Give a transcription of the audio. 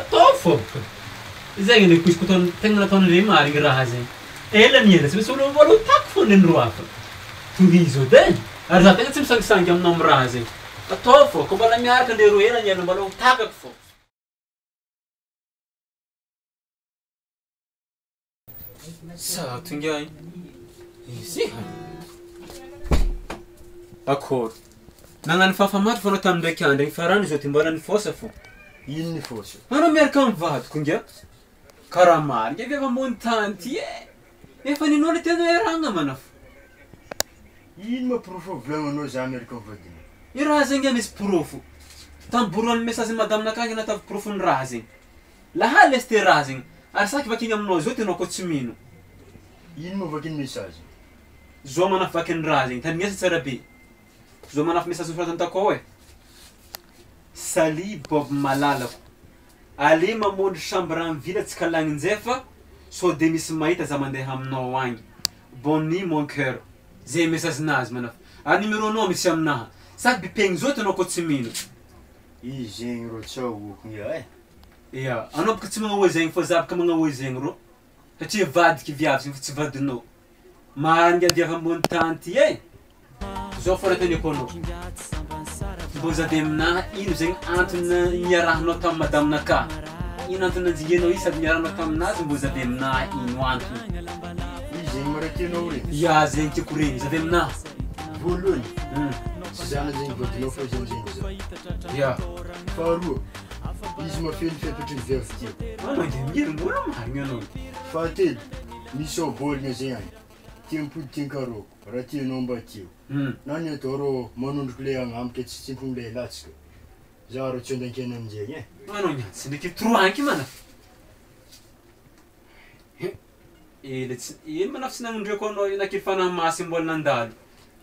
Ataovy fô! Izay anie quiz ko tegna nataon'ireny marigny raha zegny. Ela niezaka tsy maintsy olo voalohany tack fô neny roa hafa. Tohizo edy e! Ary za tegna tsy misangisangy aminao am raha zegny. Ataovy fô, kô mbola miaraka ndre roa ela niala mbalao ho takako fô. Zato ingahy. Ezeha. Akôry. Nagnano fahafahamaty foana tamin'ny ndraiky andro igny farany izao dia mbola nifosa fo. Ino nifosa? Anao miaraka amin'ny vadiko ingahy. Karaha marigny ve fa moa ny tany ty e? Efa ninoa le tena iarahagna ma anao. Ino ma porofo volagninao za miaraka amin'ny vadinao? I raha zegny ingahy misy porofo. Tambory ho an'ny mesazin'i madame-na akagny anao ataovy porofo ny raha zegny. Lahaly lesy terazigny ary saky vakigny aminao zao tenao ko tsy mino. Ino moa vaky ny message? Zao manafy vaky ny raha zegny, tandrignesa tsara be. Zao manafy message nosoratany takao e. Salut Bob malalako. Alé mamôndro chambre am villa tsy kalagny njay fa sao de misy mahita za mandeha aminao agny. Bonne nuit mon coeur. Zay message nazy manafy. Ary numéro nao misy aminaha. Saky bipegny zao tenao ko tsy mino. Izy zegny rô tsao oko ngiahy. Ia, anao bôka tsy magnahoa zegny fô za bôka magnahoa zegny rô, satria vadiko viavy zegny fa tsy vadinao, marigna viavy ambony tany ty e, zao fô raha teneniko anao, mbô za de aminaha ino zegny antony niarahanao tamy madaminakahy, ino antony nanjingenao izy sady niarahanao taminazy mbô za de aminaha ino antony, ia zegny tiako regny, za de aminaha, voalohany tsy za zegny vadinao fa izy amizay no vadiko, ia, faharoa. Izy mafy ny fepetra ny veuve ty. Fa mangelingery mbola marigny anao. Fahatelo, misy ao baolina zay any, tia mipody tia nkarô, raha tianao mba teo. Na ny atao rô manondroko le agnamika tsy tsimpony le latsaka. Za rô tsy ondan-kena aminjegny eh. Fa anao niany tsy ndreky trois anky mana fa he ela tsy ela manako tsy nagnondriako anao io na ke fanahy masy mbola nandalo